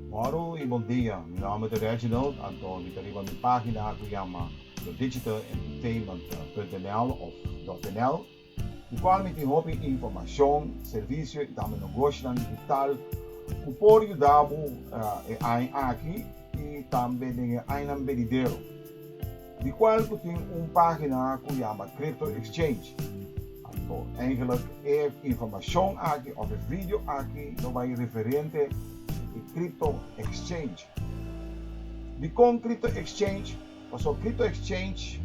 Moro y bon dia, mi nomber ta Reginald, anto mi ta riba mi pagina cu yama Your Digital Entertainment punt NL of dot NL. Di cual mi tin hopi informacion, servicio y tambe nogoshinan digital cu por yuda bo e aña aki y tambe den e añanan benidero. Di cual cu tin un pagina cu yama Crypto Exchange. Anto eigenlijk e informacion aki of e video aki lo bay referente di e Crypto Exchange. Dicon Crypto Exchange? Paso Crypto Exchange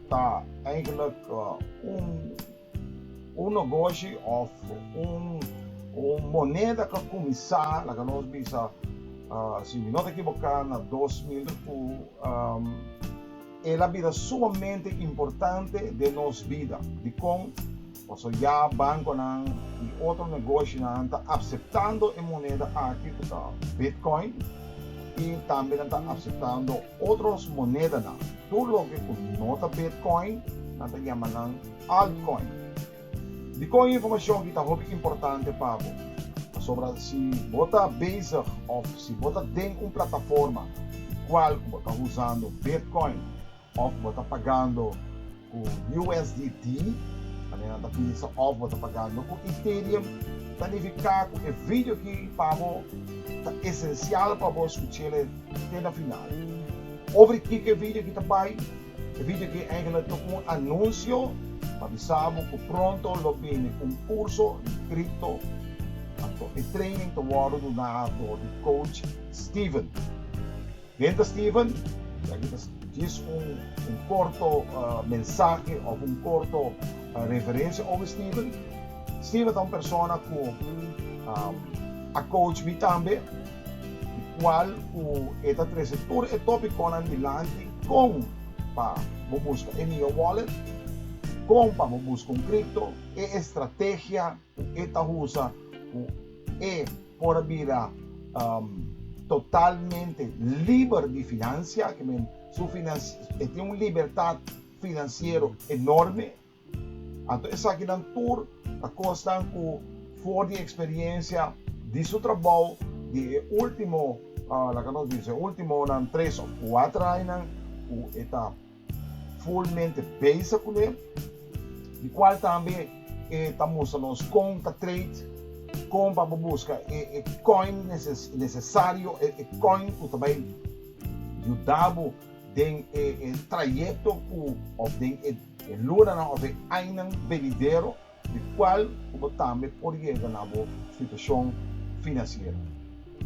ta eigenlijk un un negoshi of un un moneda ke kuminsá laga nos bisa si mi no ta ekiboká na dos mil ku el a bira sumamente importante den nos bida dikon Paso ya banconan y otro negoshonan ta aceptando e moneda aki cu ta Bitcoin y tambe nan ta aceptando otros monedanan. Tur loke cu no ta Bitcoin nan ta yama nan Altcoin. Dicon e informacion aki ta hopi importante pa bo? Pasobra si bo ta bezig of si bo ta den un plataforma di cual cu bo ta usando Bitcoin, Of bo ta pagando ku USDT, manera nan ta pidi sa, of bo ta pagando ku Ethereum, ta nifiká ku e video aki pa bo ta esensial pa bo skuch'el e te na final. Over di kiko e video aki ta bai? E video aki eigelik ta un anunsio pa bisa bo ku pronto lo bini un kurso di kripto anto e training ta wòrdu duná dor di coach Steven. Ken ta Stephen? Kia aki ta djis un korto mensahe òf un korto referensia over Stephen. Stephen ta un persona ku a kouch mi tambe, di kual ku e ta trese tur e topikonan dilanti, kon pa bo buska e mihó wòlet, kon pa bo buska un kripto, e estrategia, E ta husa ku e por a bira totalmente liber di finansia, ke men, su finans, e tin un libertat finansiero enorme. Anto esakinan tur ta kosnan ku for di eksperiensia di su trabou di e último, laga nos bisa, e últimonan tres òf kuater añanan, ku e ta. fulmente bezig kuné, di kual tambe e ta mustra nos kon ta trade, kon pa bo buska e e koin nesesario, e koin ku ta bai yuda bo den e e trayekto ku òf den e lunanan òf e ainan benidero. di cual cu bo tambe por yega na bo situacion financiero.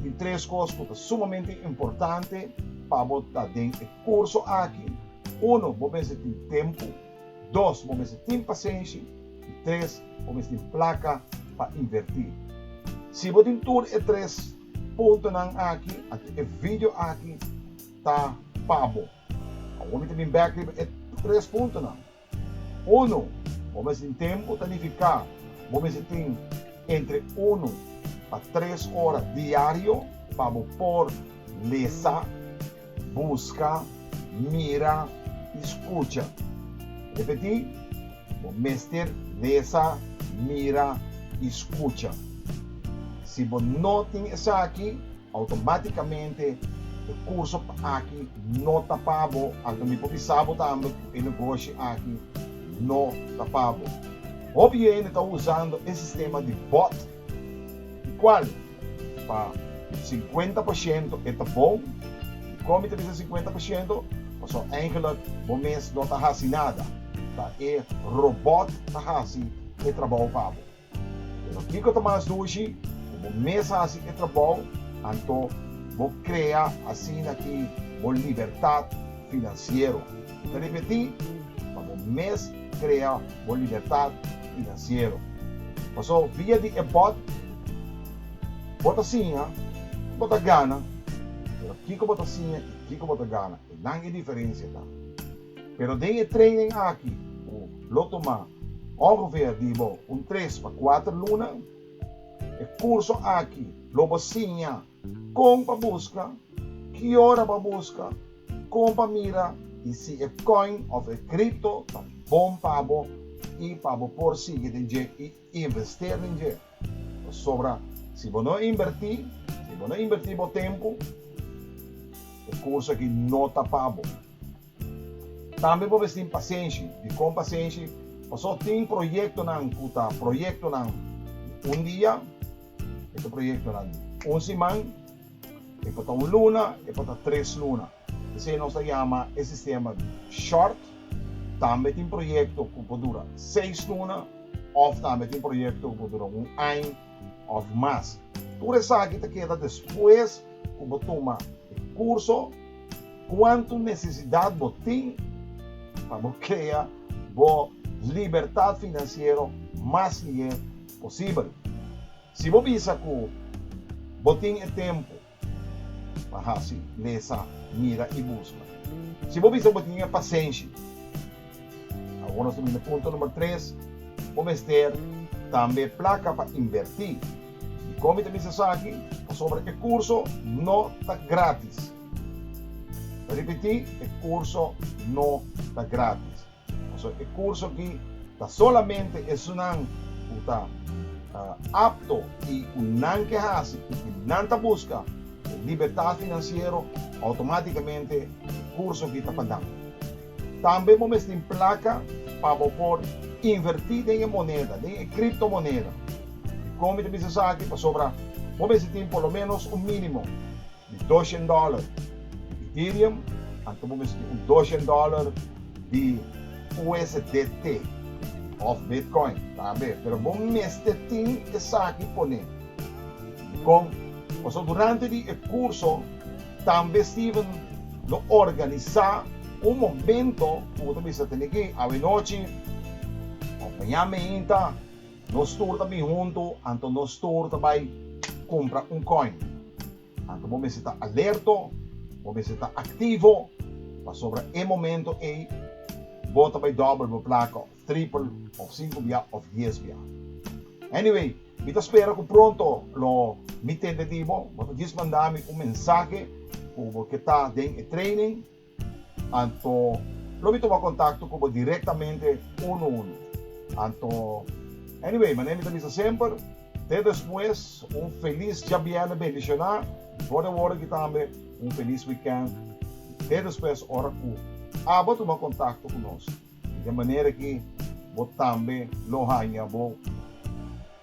Tin tres cos cu ta sumamente importante pa bo ta den e curso aki, Uno, bo mester tin tempo, dos, bo mester tin pasenshi y tres, bo mester tin placa pa inverti. Si bo tin tur e tres puntonan aki, anto e video aki ta pa bo. Awor mi ta bin bek riba e tres puntonan. Unu, bo mester tin tempu ta nifiká. Bo mester tin entre unu pa tres ora diario pa bo por lesa, buska, mira i skucha. Repetí, Bo mester lesa, mira i skucha. Si bo no tin esaki. Automáticamente e curso aki no ta pa bo, anto mi por bisa bo tambe cu e negoshi aki no ta pa bo. Hopi hende ta usando e sistema di bot, di cual pa cincuenta por ciento e ta bon, y con mi ta bisa cincuenta por ciento paso eigenlijk bo mes no ta haci nada, ta e robot ta haci e trabao pa bo. Pero kiko ta mas dushi? Ku bo mes hasi e trabou, anto bo krea asina ki bo libertat finansiero. Mi ta ripetí, pa bo mes krea bo libertat finansiero. Pasó via di e bòt, bo ta siña ku bo ta gana, pero kiko bo ta siña i kiko bo ta gana, esnan e diferensia ta. Pero den e training aki lo tuma ongeveer di bo un tres pa kuater luna. E kurso aki lo bo siña kon pa buska, ki ora pa buska, kon pa mira i si e koin òf e kripto ta bon pa bo i pa bo por sigui den dje. Invester den dje, pasobra si bo no inbertí, si bo no inbertí bo tempu, e kurso akí no ta pa bo. Tambe bo mester tin pasenshi. Dikon pasenshi? Pasó tin proyektonan ku ta proyektonan di un dia, e ta proyektonan di un siman, e por ta un luna, e por ta tres luna. P'esei nos ta yama e sistema di short, tambe tin proyekto ku por dura seis luna òf tambe tin proyekto ku por dura un aña òf mas. Tur esaki ta keda despues ku bo tuma e kurso kuantu nesesidat bo tin pa bo krea bo libertat finansiero mas lihe posibel. Si bo bisa ku bo tin e tempu. Pa hasi lesa, mira i buska. Si bo bisa ku bo tin e pasenshi. Awor nos ta bini na punto number tres, bo mester tambe plaka pa invertí. Dikon mi ta bisa esaki? Pasobra e kurso no ta gratis. Mi ta ripetí, e kurso no ta gratis. Pasobra e kurso aki ta solamente esunnan ku ta apto i ku nan ke hasi purke nan ta buska e libertat finansiero, outomátikamente e kurso aki ta pa nan. Tambe bo mes tin plaka pa bo por invertí den e moneda, den e kriptomoneda. Dikon mi ta bisa esaki? Pasobra bo mes tin por lo ménos un mínimo di doshen dòler Ethereum, anto bo misti un doshen dòler di USDT òf Bitcoin tambe, pero bo mester tin esaki pon'é. Dikon? Pasobra durante di e kurso tambe Steven lo organisá un momento ku bo ta bisa tene ke awe nochi òf mañan meinta, Nos tur ta bin huntu, anto nos tur ta bai kumpra un kòin. Anto bo mester ta alerto, bo mester ta aktivo, pasobra e momento ei bo ta bai dòbel bo plaka òf tripel òf sinku bia òf dies bia. Anyway, mi ta spera ku pronto lo mi tende di bo. Bo ta dismandami un mensahe ku bo ke ta den e training. Anto lo mi tuma kontakto ku bo direktamente unu unu. Anto anyway manera mi ta bisa semper te despues un felis djabièrnè bendishoná for de wòrki tambe un felis wikènt te despues ora ku abo tuma kontakto ku nos den manera ki bo tambe lo haña bo